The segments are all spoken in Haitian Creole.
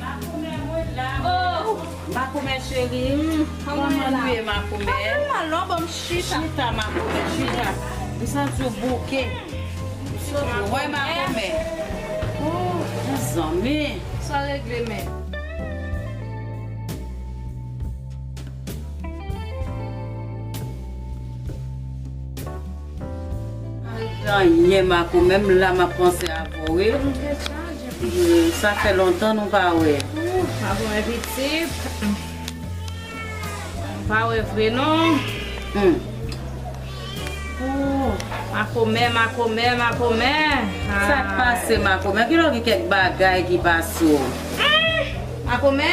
Makomè mwen la oh makomè cheri m kòman nou ye makomè chita makomè chita m santi w bouke wè makomè ooh mezanmi sa regle men. Mwen anyen Marco menm la map panse avw wi sa fè lontan nou pa wè. Marco mwen pitit nou pa wè vre non. Ooh Marco mè Marco mè Marco mè aah. Sak pase Marco mè kilè w gen kèk bagay ki pase w. Marco mè.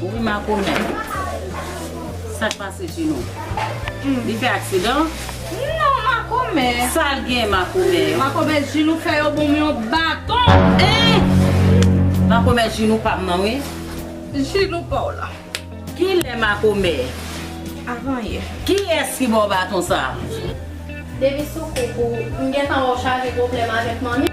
Wi makomè sak pase Gino li fè aksidan? Non makomè. Sal gen makomè yo. Makomè Ginou fè yo bonm yon baton. Eeh makomè Ginou pam nan wi. Ginou paw la. Kilè makomè. Avan yè. Kiyès ki baw baton sa. Depi sou koup ou m gentan wèw chaje pwoblèm avèk manmi.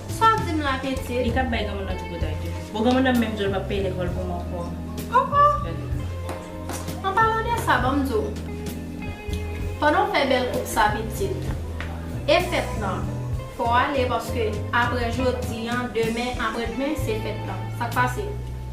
Sa w di m la pitit? Li tap bay granmoun nan tripotay toujou. Bon granmoun nan menm di w li pap peye lekòl pou m ankò. Ankò? An palan de sa, ban m di w. Pandan w fè bèl koup sa pitit, e fèt lan, fò w ale paske aprè jodi an, demen, aprè dmen, se fèt lan. Sa k pase?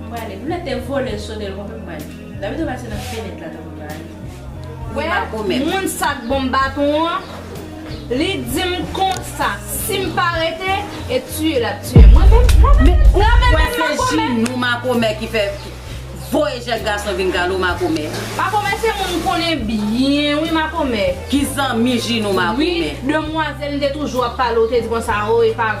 M prale. M lete volè sode l konpe m prale. David Robert se nan fenèt la tankou ta ale. Wè moun sa k ban m baton an, li di m konsa si m pa rete e tiye l ap tiye m. Mwen menm, mwen menm, mwen menm menm makomè. Men ou kwè se jinou makomè ki fè voye jèn gason vin kale w makomè? Makomè se moun m konnen byen wi makomè. Ki zanmi jinou makomè. Wi demwazèl m te toujou ap pale w te di konsa o epa.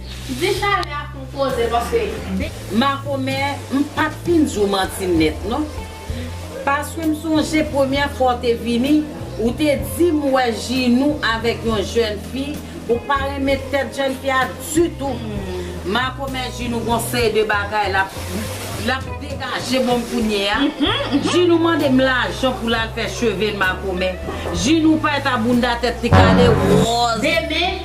Di chalè a fon koze paske. Makomè m pat fin di w manti nèt non paske m sonje premyè fwa w te vini ou te di m wè Ginou avèk yon jèn fi ou pa renmen tèt jèn fi a ditou makomè Ginou gon seri de bagay lap lap degaje bon kounye a Ginou mande m lajan pou l al fè cheve l makomè Ginou payet a bounda tèt li kale wòz.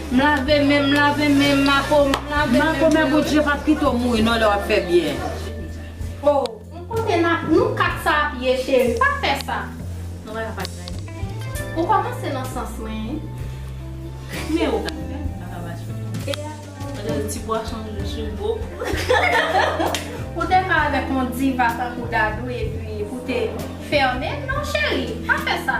M lave menm m lave menm mako m lave menm. Mako men bout je pa pito mouri non lè wap fè byen. Oh on kote nap nou 4 sa ap ye cheri pa fè sa non bagay pa grav ou komanse nan sans mwen wi men ou gade fèm paka mache e a gade ti pwason m jwe sou gwo kou ou te ka avèk on diva tankou dadou epi pou te fèmen non cheri pa fè sa.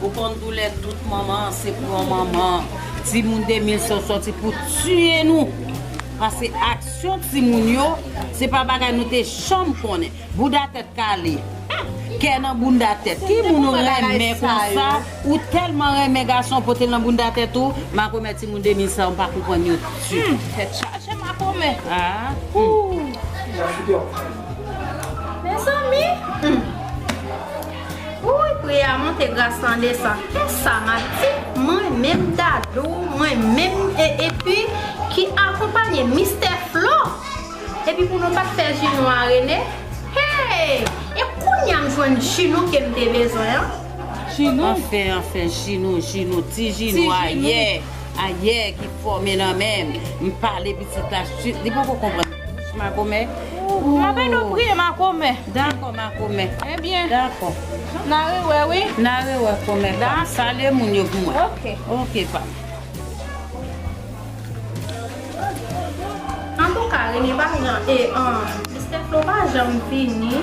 Ou konn doulè tout manman an se pran manman an. Timoun 2000 se yo soti pou tiye nou. Pase aksyon timoun yo se pa bagay nou te janm konnen. Bouda tèt kale. Kè nan bounda tèt. Ki moun ou renmen konsa ou tèlman renmen gason ou pote l nan bounda tèt ou. Makomè timoun 2000 sa yo m pa konprann yo ditou. Tèt chaje makomè. Mezanmi. Wouyy pri a monte gras lan desan esa mati mwen menm dadou mwen menm e epi ki akonpanye mistè flo epi pou nou pat fè ji nou a rene heyy e kounya m jwenn ji nou kem te bezwen an. Anfen anfen ji nou ji nou ti ji nou ayè ayè ki fòme nan menm m pale pitit la swit li poko konprann. Makomè ooh. Mapè nou priye makomè. Dakò makomè. Ebyen. Dakò. Na re wè wi. Na re wè komè pa. Dakò. Salye moun yo pou mwen. Ok. Ok pa. Antouka Rene pa janm e an Mister Flo pa janm vini.